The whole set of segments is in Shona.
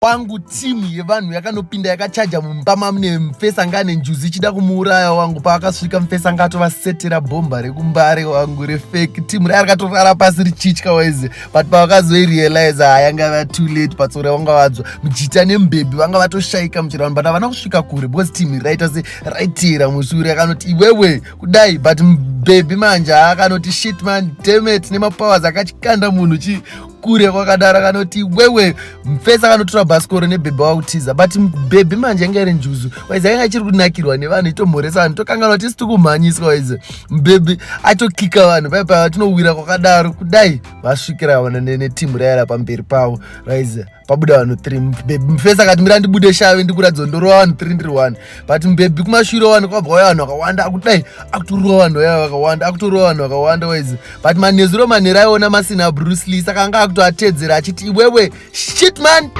kwangu timu yevanhu yakanopinda yakachaja mumba mamune mfesa anga ane njuzi ichida kumuuraya wangu paakasvika mfesa anga atovasetera bhomba rekumbare wangu refeki timu raya rakatorara pasi richitya waize but pavakazoirealize hayanga ah, va too late patsore vanga vadzwa mujita nembebi vanga vatoshaika muchirano but havana kusvika kure because timu raita se raitira mushure akanoti iwewe kudai but mbebi manje akanoti shit man demet nemapowers akachikanda munhu chi kure kwakadaro kanoti wewe mfesa kanotora bhasikoro nebhebhi wakutiza but bhebhi manje yanga iri njuzu waiza yanga chiri kunakirwa nevanhu itomhoresa vanhu tokanganwa tisi tikumhanyiswa waiza mbhebhi atokika vanhu pai pai vatinowira kwakadaro kudai vasvikira vana netimu rayara pamberi pavo raiza pabuda vanhu three bhebhi mfesa akati mira ndibude shave ndikuratidza ndorova vanhu three ndiri one but mbebhi kumashure wani kwabva waya vanhu vakawanda akudai akutorova vanhu vaya vakawanda akutorova vanhu vakawanda waizi but manezuro manhero aiona masina bruce lee saka anga akutoatedzera achiti iwewe shit man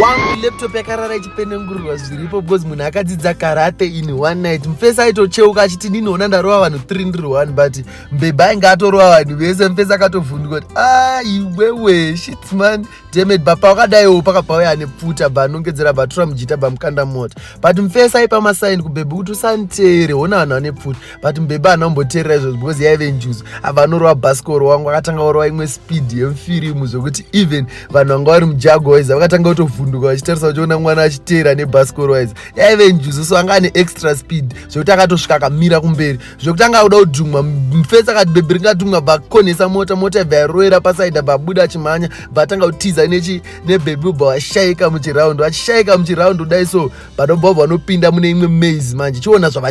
wangu laptop yakarara ichipenengurwa zviripo because munhu akadzidza karate in one night mufesi aitocheuka achiti ndinoona ndarova vanhu 3 ndiri one but mbebha ainge atorova vanhu vese mufesi akatovhundwa kuti aiwewe ah, shitman Demet bapa wakadaiwo pakabva uya anepfuta bva anongedzera bva tura mujita bva mukanda mota but mfesa aipa masaini kubhebhi kuti usanditere hona vanhu vane pfuta but mbhebhi haana kumboteerera izvozvo because yaive njuzu abva anorova bhasikoro wangu akatanga orova imwe speed yemufirimu zvekuti even vanhu vanga vari mujago waiza vakatanga kutovhunduka vachitarisa vachiona mwana achiteera nebhasikoro waiza yaive njuzu so anga ane extra speed zvekuti akatosvika akamira kumberi zvekuti anga akuda kudhumwa mfesi akati bhebhi ringadhumwa bvakonhesa mota mota yabva yaroera pasaida bvabuda achimhanya bvatanga kutiza nechi nebhebhi ubva vashaika muchiraundi vachishaika muchiraundi kudai so but obva vanopinda mune imwe maze manje chiona zvava